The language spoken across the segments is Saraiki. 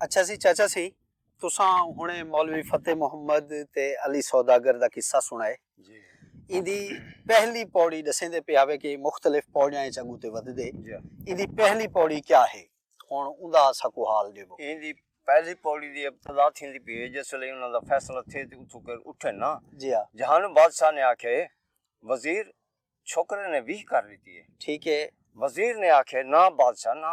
اچھا سی چاچا سی تساں ہنڑے مولوی فتح محمد تے علی سوداگر دا قصہ سنڑائے۔ ایندی پہلی پوڑی ڈسیندے پے آوے کہ مختلف پوڑیاں اچ اگوں تے ودھدے۔ ایندی پہلی پوڑی کیا ہے؟ ہنڑ اوندا اساکوں حال ڈیوو۔ ایندی پہلی پوڑی دی ابتدا تھیندی پی ہے جس ویلے انہاں دا فیصلہ تھے تے اتھوں کر اٹھن نا۔ جہانو بادشاہ نے آکھیا ہے وزیر چھوکرے نے ویہہ کر ڈتی ہے۔ ٹھیک ہے۔ وزیر نے آکھیا ہے نا بادشاہ نا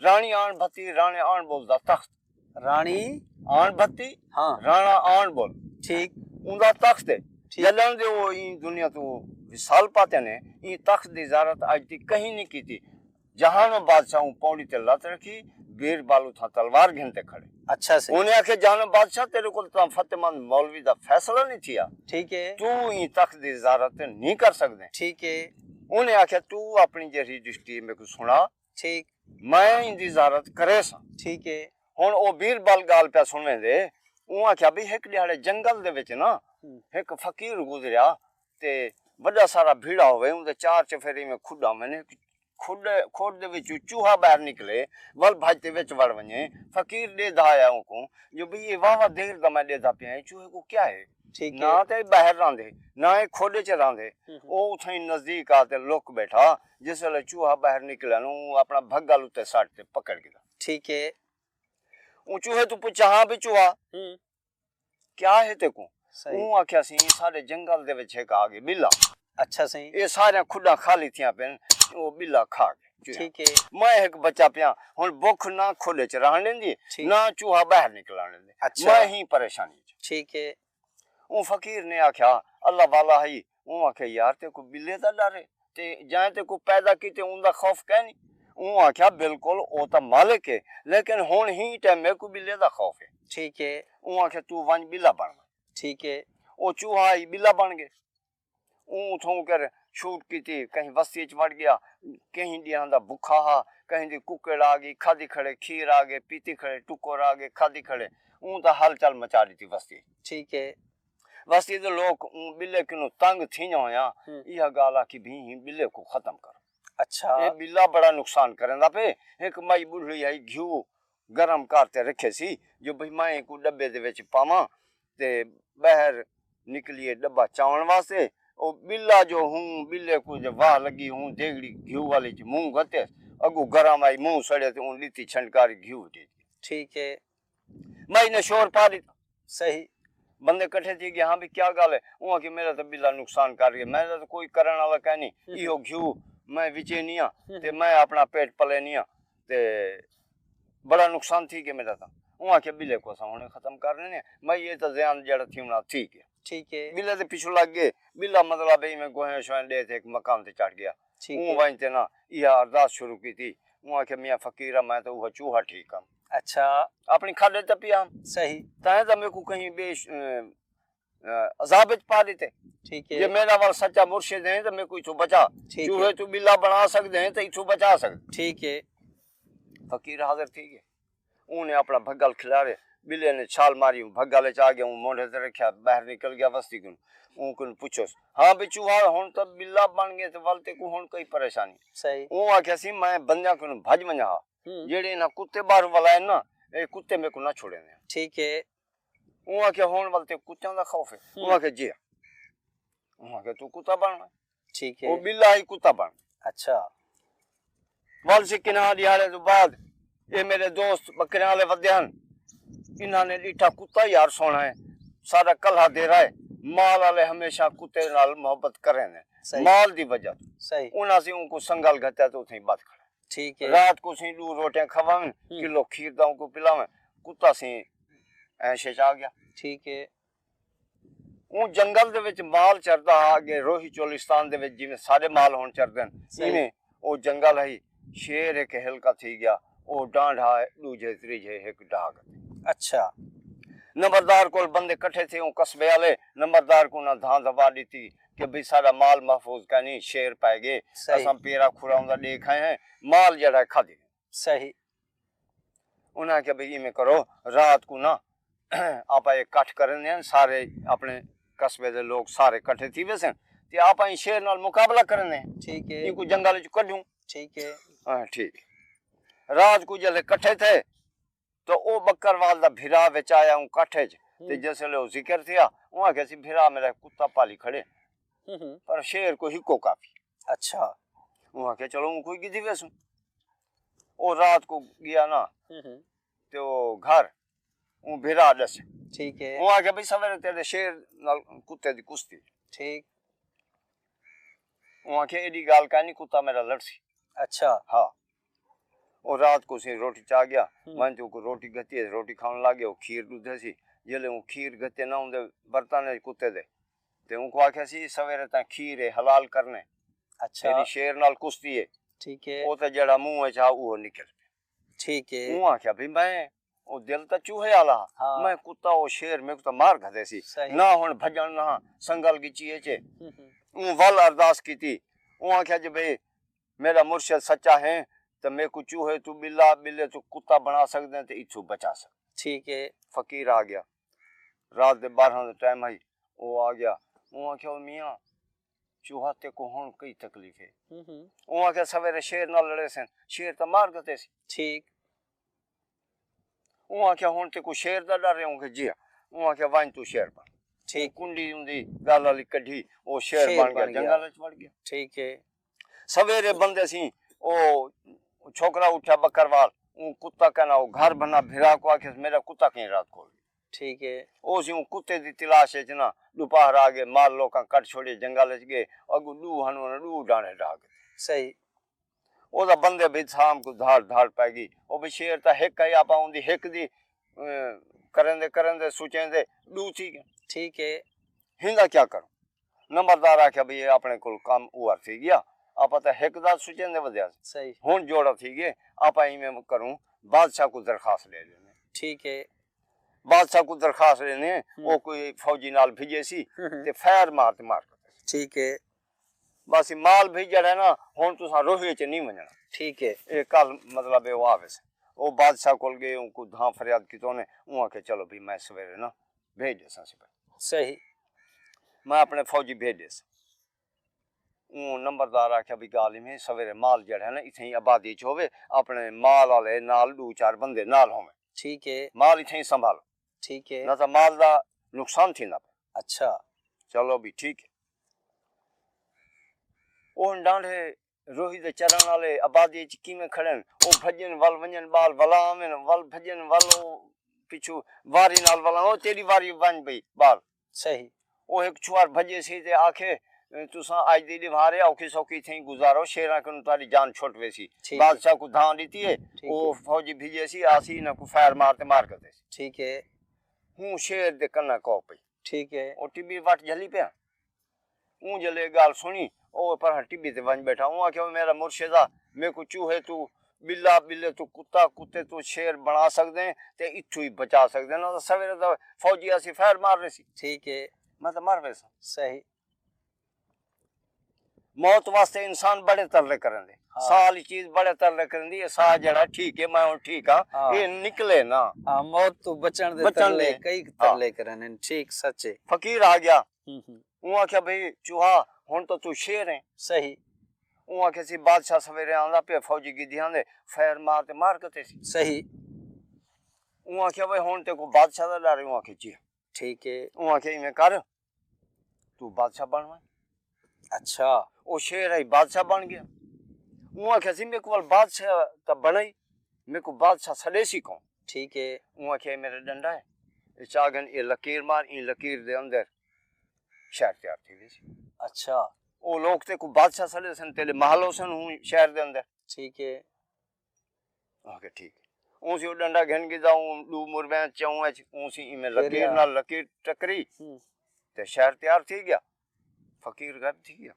راݨی آݨ بھتی راݨے آݨ بول دا تخت راݨی آݨ بھتی ہاں راݨا آݨ بول ٹھیک اون دا تخت ہے جلن دے او این دنیا تو وصال پاتے نے این تخت دی زارت آج تی کہیں نہیں کیتی جہانو بادشاہ اون پوڑی تے لت رکھی بیر بالو تھا تلوار گھن تے کھڑے اچھا سی اونے آکھے جہانو بادشاہ تیرے کول تاں فتح مند مولوی دا فیصلہ نہیں تھیا ٹھیک ہے تو این تخت دی زارت نہیں کر سکدے ٹھیک ہے اونے آکھے تو اپنی جہری دشتی میکو سنا ٹھیک میں ایندی زیارت کریساں۔ ٹھیک ہے۔ ہن او بیربل گالھ پیا سنویندے اوں آکھیا بھئی ہک ڈیہاڑے جنگل دے وچ نا ہک فقیر گزریا تے وڈا سارا بھیڑا ہووے اوندے چار چفیرے ایویں کھڈاں ہووین ہک کھڈ کھڈ دے وچوں چوہا باہر نکلے ول بھج تے وچ وڑ ونجے فقیر ڈیدھا آیا اونکوں جو بھئی اے واہ واہ دیر دا میں ڈیدھا پیاں اے چوہے کوں کیا ہے۔ ٹھیک ہے۔ نہ تے اے باہر رہندے نہ اے کھوڈے چ رہندے۔ او اتھائیں نزدیک آ تے لک بیٹھا۔ جس ویلے چوہا باہر نکلیا نو اوں اپنا بھگل اتے سٹ تے پکڑ گھدا۔ ٹھیک ہے۔ اوں چوہے توں پچھا ہاں بھئی چوہا کیا ہے تیکوں؟ اوں آکھیا سی ساڈے جنگل دے وچ ہک آ گئے بلا۔ اچھا سئیں۔ اے ساریاں کھڈاں خالی تھیاں پن او بلا کھا گئے۔ ٹھیک ہے۔ میں ہک بچہ پیاں ہن بکھ نہ کھڈ اچ رہن ڈیندی ہے نہ چوہا باہر نکلن ڈیندے۔ اچھا۔ میں ہی پریشانی اچ۔ ٹھیک ہے۔ اوں فقیر نے آکھیا اللہ والا ہئی اوں آکھیا یار تیکوں بلے دا ڈر ہے تے جئیں تیکوں پیدا کیتے اوندا خوف کینی۔ اوں آکھیا بالکل او تاں مالک ہے لیکن ہن ہی ٹیم میکوں بلے دا خوف ہے۔ ٹھیک ہے۔ اوں آکھیا توں ونج بلا بن ونج۔ ٹھیک ہے۔ او چوہا ہئی بلا بن گئے۔ اوں اتھوں کر شوٹ کیتی کہیں وستی اچ وڑ گیا کہیں ڈیہاں دا بکھا ہا کہیں دی ککڑ آ گئی کھادی کھڑے کھیر آ گئے پیتی کھڑے ٹکر آ گئے کھادی کھڑے اوں تاں ہل چل مچا ڈتی وستی اچ ٹھیک ہے۔ وستی دے لوک اوں بلے کنوں تنگ تھینجاں ہویاں ایہا گالھ آکھی بھیں ہی بلے کوں ختم کرو اچھا اے بلا بڑا نقصان کریندا پئے ہک مائی بڈھڑی ہئی گھیو گرم کر تے رکھے سی جو بھئی میں اینکوں ڈبے دے وچ پاواں تے بہر نکلیے ڈبہ چاون واسطے او بلا جو ہوں بلے کوں جے واہ لگی ہوں دیگڑی گھیو والی اچ منہ گھتیس اگوں گرم آئی منہ سڑے تے اوں ڈتی چھنڈکاری گھیو ڈیتی۔ ٹھیک ہے۔ میں نے شور پا ڈتا۔ صحیح۔ بندے کٹھے تھی گئے ہاں بھئی کیا گالھ ہے۔ اوہاں کیا میرا تاں بلا نقصان کر گئے۔ میں تاں کوئی کرن والا کائے نی۔ ایہو گھیو میں وچینی ہاں تے میں اپنا پیٹ پلینی ہاں تے بڑا نقصان تھی گئے میرا تاں۔ اوہاں کیا بلے کو اساں ہنے ختم کر ڈینے ہیں۔ میں یہ تاں زیان جیڑا تھی ہونا تھی گیا۔ ٹھیک ہے۔ بلے دے پچھو لگ گئے۔ بلا مطلب ہے میں گوہے شوہے دے تھے ایک مکان تے چڑھ گیا۔ ٹھیک ہے۔ اوہاں وائن تے نا یہ ارداس شروع کی تھی۔ اوہاں کیا میاں فقیرہ میں تاں اوہاں چوہا ٹھیک ہاں۔ اچھا اپنی کھڈ وچ ٹپیا ہم صحیح تاں دا میکو کہیں بے عذاب وچ پا دیتے ٹھیک ہے جے میرا ول سچا مرشد ہیں تے میکو ایتھوں بچا چوہے تو بلا بنا سکدے ہیں تے ایتھوں بچا سکدے ٹھیک ہے فقیر حاضر تھی گئے اوں نے اپنا بھگل کھلارے بلے نے چھال ماری اوں بھگل وچ آ گیا اوں مونڈھے تے رکھیا باہر نکل گیا وستی کن اوں کن پوچھوس ہاں بے چوہا ہن تے بلا بن گئے تے ول تے کو ہن کوئی پریشانی صحیح اوں آکھیا سی میں بندیاں کن بھج ونجا ہاں جیڑھے انہاں کتے باہر ولائن نا اے کتے میکوں نہ چھوڑیندے ٹھیک ہے اوں آکھیا ہن ول تیکوں کتیاں دا خوف ہے اوں آکھیا جی ہاں اوں آکھیا توں کتا بن وے ٹھیک ہے او بلا ہی کتا بن اچھا ول سی کناں ڈیہاڑے تو بعد اے میرے دوست بکریاں والے ودے ہن انہاں نے ڈیٹھا کتا یار سونا ہے سارا کلہا دیرا ہے مال والے ہمیشہ کتے نال محبت کریندے مال دی وجہ توں انہاں سی اونکوں سنگل گھتیا تے اتھے ہی بت کھڑا ٹھیک ہے رات کو سیں ڈو روٹیاں کھواویں کلو کھیر دا کو پلاویں کتا سیں ایش اچ آ گیا ٹھیک ہے اوں جنگل دے وچ مال چردا ہا اگے روہی چولستان دے وچ جویں سارے مال ہن چردے ہن ایویں او جنگل ہئی شیر ہک ہلکا تھی گیا او ڈانڈ ہا ڈوجھے تریجھے ہک ڈاگ اچھا نمبردار کول بندے کٹھے تھے اوں قصبے والے نمبردار کوں انہاں دھاں دھپا ڈتی کہ بھئی ساڈا مال محفوظ کائنی شیر پئے گئے اساں پیرا کھراؤں دا ڈے کھائے ہیں مال جیڑھا ہے کھادی ہیں۔ صحیح۔ انہاں آکھیا بھئی ایویں کرو رات کوں نہ آپاں ایک کٹھ کرنے ہیں سارے اپنے قصبے دے لوگ سارے کٹھے تھی ویسے ہیں تے آپاں ایں شیر نال مقابلہ کرنے ہیں۔ ٹھیک ہے۔ اینکوں جنگل وچ کڈھوں۔ ٹھیک ہے۔ ہاں ٹھیک ہے۔ رات کوں جلے کٹھے تھے۔ تاں او بکروال دا بھرا وچ آیا اوں کٹھ وچ تے جس ویلے او ذکر تھیا اوں آکھیا سی بھرا میڈا ہک کتا پالی کھڑے پر شیر کوئی ہکو کافی ہے۔ اچھا۔ اوں آکھیا چلو اوں کوئی گدھی ویسوں۔ او رات کوں گیا نا تے او گھر اوں بھرا ڈسے۔ ٹھیک ہے۔ اوں آکھیا بھئی سویرے تیڈے شیر نال کتے دی کشتی ہے۔ ٹھیک۔ اوں آکھیا ایڈی گال کائنی کتا میڈا لڑسی۔ اچھا۔ ہا۔ او رات کوں سئیں روٹی چا گیا۔ ونج تے اوکوں روٹی گھتی ہس۔ روٹی کھاون لگ گیا۔ او کھیر ڈودھ ہسی۔ جیلے اوں کھیر گھتے نہ اوندے برتن اچ کتے دے تے اونکوں آکھیا سی سویرے تاں کھیر اے حلال کرنے۔ تیڈی شیر نال کشتی اے۔ او تاں جیہڑا منہ اچ ہا اوہو نکل پیا۔ اوں آکھیا بھئی میں او دل تاں چوہے آلا ہا میں کتا او شیر میکوں تاں مار گھدے سی نہ ہن بھجن نہ ہاں سنگل گچی اچ اوں ول ارداس کیتی اوں آکھیا جے بھئی میڈا مرشد سچا ہیں تاں میکوں چوہے توں بلا بلے توں کتا بنا سگدیں تاں اتھوں بچا سگدیں فقیر آگیا رات دے بارہاں دا ٹائم ہئی او آگیا اوں آکھیا او میاں چوہا تیکوں ہن کئی تکلیف ہے اوں آکھیا سویرے شیر نال لڑے سن شیر تاں مار گھدے سی۔ اوں آکھیا ہن تے کو شیر دا ڈر ہے اوں کے جیا اوں آکھیا ونج تو شیر بن ٹھیک کنڈی اون دی گل علی کڈھی او شیر بن گیا جنگل وچ وڑ گیا ٹھیک ہے سویرے بندے سی او چھوکرا اٹھیا بکروال اون کتا کنا او گھر بنا بھرا کو آکھیا میرا کتا کہیں رات کو ٹھیک ہے او سی اون کتے دی تلاش وچ نا دوپہر آ گئے مال لوکاں کٹ چھوڑے جنگل وچ گئے اگو دو ہنو دو ڈانڑے ڈا گئے صحیح او دا بندے بھج سام کوں دھاڑ دھاڑ پے گی۔ او بھی شعر تاں ہک ہئی آپاں اوندی ہک دی کریندے کریندے سوچیندے ڈو تھی گئے۔ ٹھیک اے۔ ہیندا کیا کروں؟ نمبردار آکھیا بھئی اے آپنے کول کم اوور تھی گیا۔ آپاں تاں ہک دا سوچیندے ودھیا سے۔ صحیح۔ ہن جوڑا تھی گئے۔ آپاں ایویں کروں بادشاہ کوں درخواست ڈے ڈیندے۔ ٹھیک اے۔ بادشاہ کوں درخواست ڈیندے او کوئی فوجی نال بھجیسی تے فائر مار تے مار کھڑیسی۔ ٹھیک اے۔ باسی مال بھئی جیڑھا ہے نا ہن تساں روہی اچ نی ونجنڑاں۔ ٹھیک ہے۔ اے کل مطلب ہے او آویسن۔ او بادشاہ کول گئے اوں کوں دھاں فریاد کیتا انہیں اوں آکھیا چلو بھئی میں سویرے نا بھیج ڈیساں سی بھئی۔ صحیح۔ میں اپنے فوجی بھیج ڈیساں۔ اوں نمبردار آکھیا بھئی گالھ ایویں ہے سویرے مال جیڑھا ہے نا اتھاں ای آبادی اچ ہووے اپنے مال آلے نال ڈو چار بندے نال ہوون۔ ٹھیک ہے۔ مال اتھاں ای سنبھالو۔ ٹھیک ہے۔ نہ تاں مال دا نقصان تھیندا پئے۔ اچھا۔ چلو بھئی ٹھیک ہے۔ او ہن ڈانڈھے روہی دے چرݨ آلے آبادی اچ کیویں کھڑن۔ او بھڄن ول ونڄن ٻال ولا آون ول بھڄن ول او پچھوں واری نال ولا او تیݙی واری ونڄ پئی ٻال صحیح او ہک چھوہر بھڄے سی تے آکھے تساں اڄ دی ݙوہارے اوکھی سوکھی تھئیں گزارو شیراں کنوں تہاݙی جان چھٹ ویسی بادشاہ کوں دھاں ݙتی اے او فوجی بھڄے سی آسی انہاں کوں فائر مار تے مار گھدے سی ہوں شیر دے کناں کو پئی۔ ٹھیک ہے۔ او ٹبی وٹ جھلی پیا۔ اوں جلے اے گالھ سنڑی او پرہاں ٹبی تے ونج بیٹھا۔ اوں آکھیا او میڈا مرشد آ میکوں چوہے توں بلا، بلے توں کتا، کتے توں شیر بنڑا سگدیں تے اتھوں ہی بچا سگدیں نہ تاں سویرے تاں فوجی آسی فائر مار ریسی۔ ٹھیک ہے۔ میں تاں مر ویساں۔ صحیح۔ موت واسطے انسان بڑے ترلے کرن دے ہاں۔ ساہ والی چیز بڑے ترلے کرن دی ساہ جڑا ٹھیک ہے میں ہن ٹھیک ہاں, ہاں۔ اے نکلے نا ہاں موت تو بچن دے بچن ترلے کئی ترلے ہاں۔ کرن ہیں ٹھیک سچ ہے فقیر آ گیا اوں آکھیا بھئی چوہا ہن تو تو شیر ہیں صحیح اوں آکھیا سی بادشاہ سویرے آندا پیا فوجی گدھیاں دے فیر مار تے مار کتے سی صحیح اوں آکھیا بھئی ہن تے کو بادشاہ دا ڈر اوں آکھیا جی ٹھیک ہے اوں آکھیا ایویں کر تو بادشاہ بن ونج۔ اچھا او شیر آئی بادشاہ بن گیا۔ اوں آکھیا سی میکوں ول بادشاہ تاں بنڑائی میکوں بادشاہ سڈیسی کون۔ ٹھیک ہے۔ اوں آکھیا اے میڈا ڈنڈا ہے اے چا گھن اے لکیر مار ایں لکیر دے اندر شہر تیار تھی ویسی۔ اچھا۔ او لوک تیکوں بادشاہ سڈیسن تیڈے محل ہوسن ہوں شہر دے اندر۔ ٹھیک ہے۔ آکھیا ٹھیک ہے اوں سی او ڈنڈا گھن گھدا اوں ڈو مربیاں چوں اچ اوں سی ایویں لکیر نال لکیر ٹکری تے شہر تیار تھی گیا فقیر غائب تھی گیا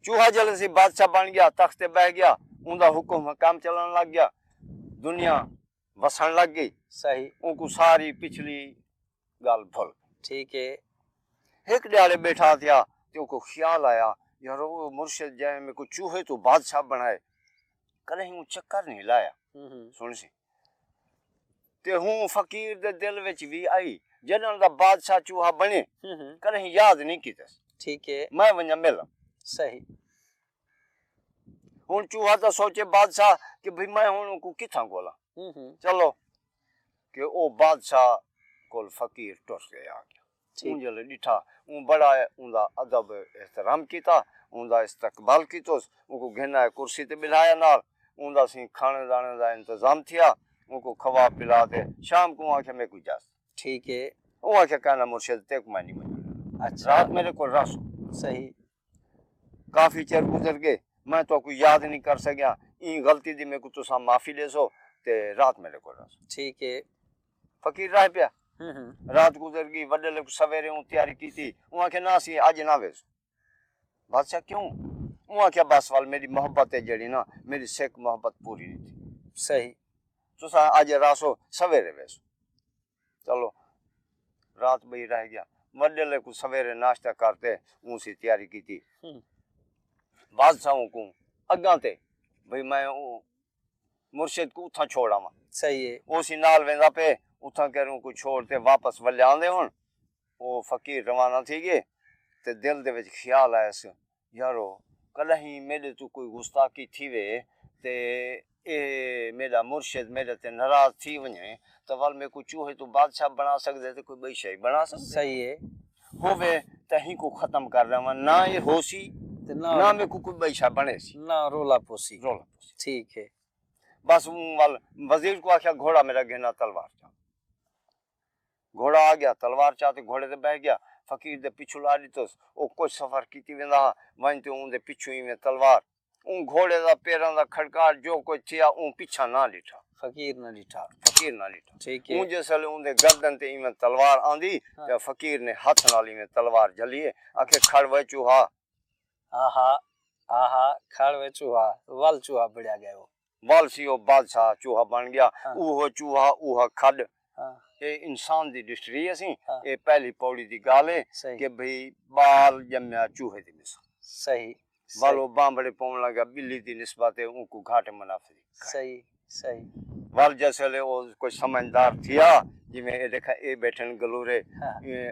چوہا جلے سی بادشاہ بن گیا تخت تے بیٹھ گیا اوندا حکم کام چلن لگ گیا دنیا وسن لگ گئی۔ صحیح۔ اونکوں ساری پچھلی گالھ بھل گئی۔ ٹھیک ہے۔ ہک ڈیہاڑے بیٹھا تھیا تے اونکوں خیال آیا یارو او مرشد جئیں میکوں چوہے توں بادشاہ بنڑائے کدہیں اوں چکر نہیں لایا۔ سنڑسی۔ تے ہوں فقیر دے دل وچ وی آئی جڈن دا بادشاہ چوہا بنڑے کدہیں یاد نہیں کیتس۔ ٹھیک ہے۔ میں ونجاں ملاں۔ صحیح۔ ہن چوہا تاں سوچے بادشاہ کہ بھئی میں ہن اونکوں کتھاں گھولاں چلو کہ او بادشاہ کول فقیر ٹر کے آ گیا اوں جلے ڈٹھا اوں بڑا اوندا ادب احترام کیتا اوندا استقبال کیتوس اونکوں گھن آئے کرسی تے بلھایا نال اوندا سیں کھانے دانے دا انتظام تھیا اونکوں کھوا پلا تے شام کوں آکھیا میکوں اجازت ٹھیک ہے اوں آکھیا کائناں مرشد تیکوں میں نی منجݨ ݙینداں رات میڈے کول رہسوں صحیح کافی چر گزر گئے میں تہاکوں یاد نہیں کر سکیا ایں غلطی دی میکوں تساں معافی ڈیسو تے رات میڈے کول رہسو ٹھیک ہے فقیر رہ پیا رات گزر گئی وڈے لوگ سویرے اون تیاری کیتی اون آکھیا نہ اسی اج نہ ویسو بادشاہ کیوں اون آکھیا بس وال میری محبت ہے جڑی نا میری سکھ محبت پوری نہیں تھی صحیح تساں اج رہسو سویرے ویسو چلو رات بئی رہ گیا وڈیلے کوں سویرے ناشتہ کر تے اوں سی تیاری کیتی بادشاہوں کوں اگاں تے بھئی میں او مرشد کوں اتھاں چھوڑ آواں صحیح ہے او سی نال ویندا پئے اتھاں کر اوں کوں چھوڑ تے واپس ولیاندے ہن او فقیر روانہ تھی گئے تے دل دے وچ خیال آیس یارو! کݙاہیں میݙے توں کوئی گستاخی تھیوے تے ایہ میݙا مرشد میݙے تے ناراض تھی ونڄے تاں ول میکوں چوہے توں بادشاہ بݨا سڳدے تے کوئی ٻئی شئے بݨا سڳدے۔ صحیح ہے، ہووے تاں ہیکوں ختم کر ݙیواں، نہ ایہ ہوسی تے نہ میکوں کوئی ٻئی شئے بݨیسی۔ نہ رولا پوسی۔ رولا پوسی۔ ٹھیک ہے۔ بس اوں ول وزیر کوں آکھیا گھوڑا میݙا گھن آ تلوار چا۔ گھوڑا آ گیا، تلوار چا تے گھوڑے تے بہہ گیا، فقیر دے پچھوں لا ݙتوس، او کجھ سفر کیتی ویندا ہا، ونڄ تے اوں دے پچھوں ایویں تلوار۔ اوں گھوڑے دا پیراں دا کھڑکاٹ جو کجھ تھیا اوں پچھاں نہ ݙٹھا۔ فقیر نہ ݙٹھا۔ فقیر نہ ݙٹھا۔ ٹھیک ہے۔ اوں جس ویلے اوں دے گردن تے ایویں تلوار آندی تے فقیر نے ہتھ نال ایویں تلوار جھلی اے آکھے کھڑ وے چوہا۔ ہا ہا ہا ہا کھڑ وے چوہا ول چوہا بھڑیا ڳئے او۔ ول سی او بادشاہ چوہا بن گیا اوہو چوہا اوہا کھڈ اے انسان دی ڈسٹری اسی اے پہلی پوڑی دی گالھ اے کہ بھئی بال جمیا چوہے دی مثل ول او بانبھڑے پون لگا بلی دی نسبت اے اونکوں گھٹ منافری کھائے ول جس ویلے او کوئی سمجھدار تھیا جیویں اے ڈیکھا اے بیٹھن گلورے ایں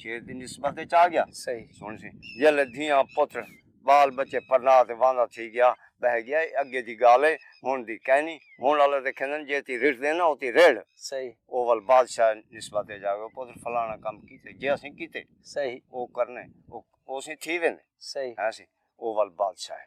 شیر دی نسبت اچ آ گیا۔ صحیح۔ سن سی جیلے دھیاں پتر بال بچے پرنا تے واندا تھی گیا بہہ گیا اے اگے دی گالھ اے ہن دی کینی ہن آلے تے کھیندن جے تی رٹھ دے نا او تی رڑھ صحیح۔ او ول بادشاہ نسبت اچ آ گیا او پتر فلانا کم کیتے جے اسیں کیتے صحیح۔ او کرنے او او سیں تھی ویندے صحیح۔ ہیں سی او ول بادشاہ اے۔